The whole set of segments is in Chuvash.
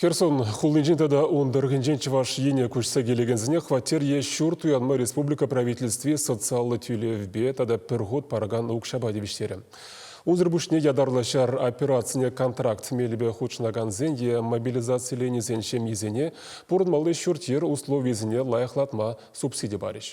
Херсон хулинчен тата ун тӑрӑхӗнчен Чӑваш Ене куҫса килекенсене хваттер е ҫурт уянма республика правительстви социаллӑ тӳлевпе тата пӗр хут паракан укҫапа тивӗҫтерӗ. Унсӑр пуҫне ятарлӑ ҫар операцине контракт мелӗпе хутшӑнакансен е мобилизациленисен ҫемйисене пурӑнмалли ҫурт-йӗр условийӗсене лайӑхлатма субсиди парӗҫ.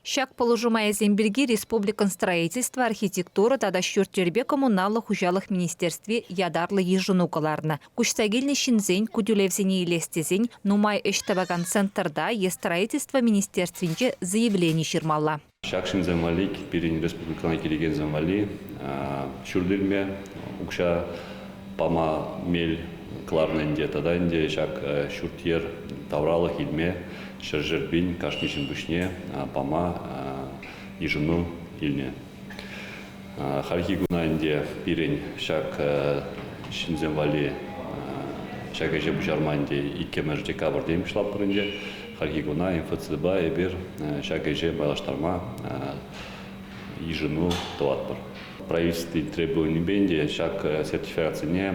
Ҫак пулӑшу майӗсем пирки республикӑн строительство, архитектура тата ҫурт-йӗрпе коммуналлӑ хуҫалӑх министерстви ятарлӑ йышӑну кӑларнӑ. Куҫса килнӗ ҫынсен ку тӳлевсене илес тесен нумай ӗҫ тӑвакан центрта е строительство министерствинче заявлени ҫырмалла. Ҫак ҫынсем валли, пирӗн республикӑна килекенсем валли ҫурт илме укҫа пама мел кӑларнӑ ӗнтӗ. Тата ӗнтӗ ҫак ҫурт-йӗр тавралӑх илме ҫӗршерпин кашни ҫын пуҫне пама йышӑну илнӗ. Хальхи куна ӗнтӗ пирӗн ҫак ҫынсем валли ҫак ӗҫе пуҫарма ӗнтӗ иккӗмӗш декабрьте пуҫлатпӑр ӗнтӗ. Хальхи куна МФЦДПа эпир ҫак ӗҫе малаштарма йышӑну тӑватпӑр. Правительстви требованипен те ҫак сертификатсене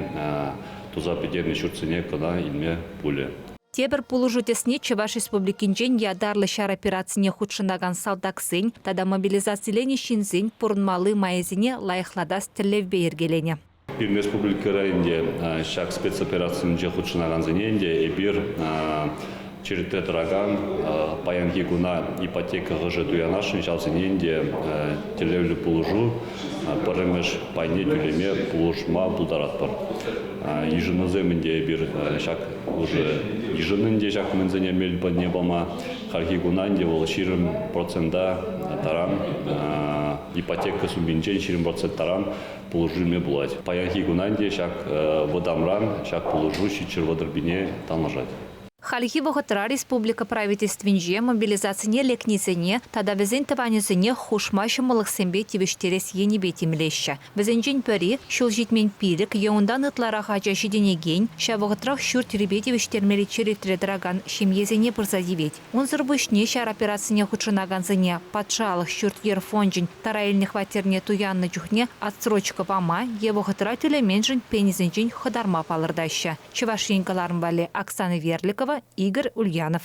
туса пӗтернӗ ҫуртсене кӑна илме пулӗ. Тепӗр пулӑшу тӗсне Чӑваш Республикинчен ятарлӑ ҫар операцине хутшӑнакан салтаксен тата мобилизациленӗ ҫынсен пурӑнмалли майӗсене лайӑхлатас тӗллевпе йӗркеленӗ. Пирӗн республика районӗнче ҫак спецоперацисенче хутшӑнакансене ӗнтӗ эпир Черетре тӑракан паянхи куна ипотека хӑшӗ туянасшӑн, ҫавсенчен те тӗллевлӗ пулӑшу пӗрремӗш пайне тӳлеме пулӑшма пултаратпӑр. Йышӑнусем ӗнтӗ эпир ҫак хушӑ йышӑннӑ ӗнтӗ ҫак мӗнсене мел патне пама. Хальхи куна ӗнтӗ вӑл ҫирӗм процента таран ипотека сумминчен ҫирӗм процент таран пулӑшу илме пулать. Паянхи куна ӗнтӗ ҫак вӑтамран ҫак пулӑшу ҫиччӗр вӑтӑрпине танлашать. Хальхи вӑхӑтра республика Правительствинче мобилизацине лекнисене тата вӗсен тӑванӗсене хушма ҫӑмӑллӑхсемпе тивӗҫтерес енӗпе тимлеҫҫӗ. Вӗсенчен пӗри, ҫул ҫитмен пилӗк е унтан ытларах ача ҫитӗнекен, ҫав вӑхӑтрах ҫурт-йӗрпе тивӗҫтермелли черетре тӑракан ҫемьесене пырса тивет. Унсӑр пуҫне ҫар операцине хутшӑнакансене Патшалӑх ҫурт-йӗр фончӗн тара илнӗ хваттерне туяннӑ чухне отсрочка пама е вӑхӑтра тӳлеменшӗн пенисенчен хӑтарма палӑртаҫҫӗ. Чӑваш Ен кӑларӑм валли Оксана Верликова, Игорь Ульянов.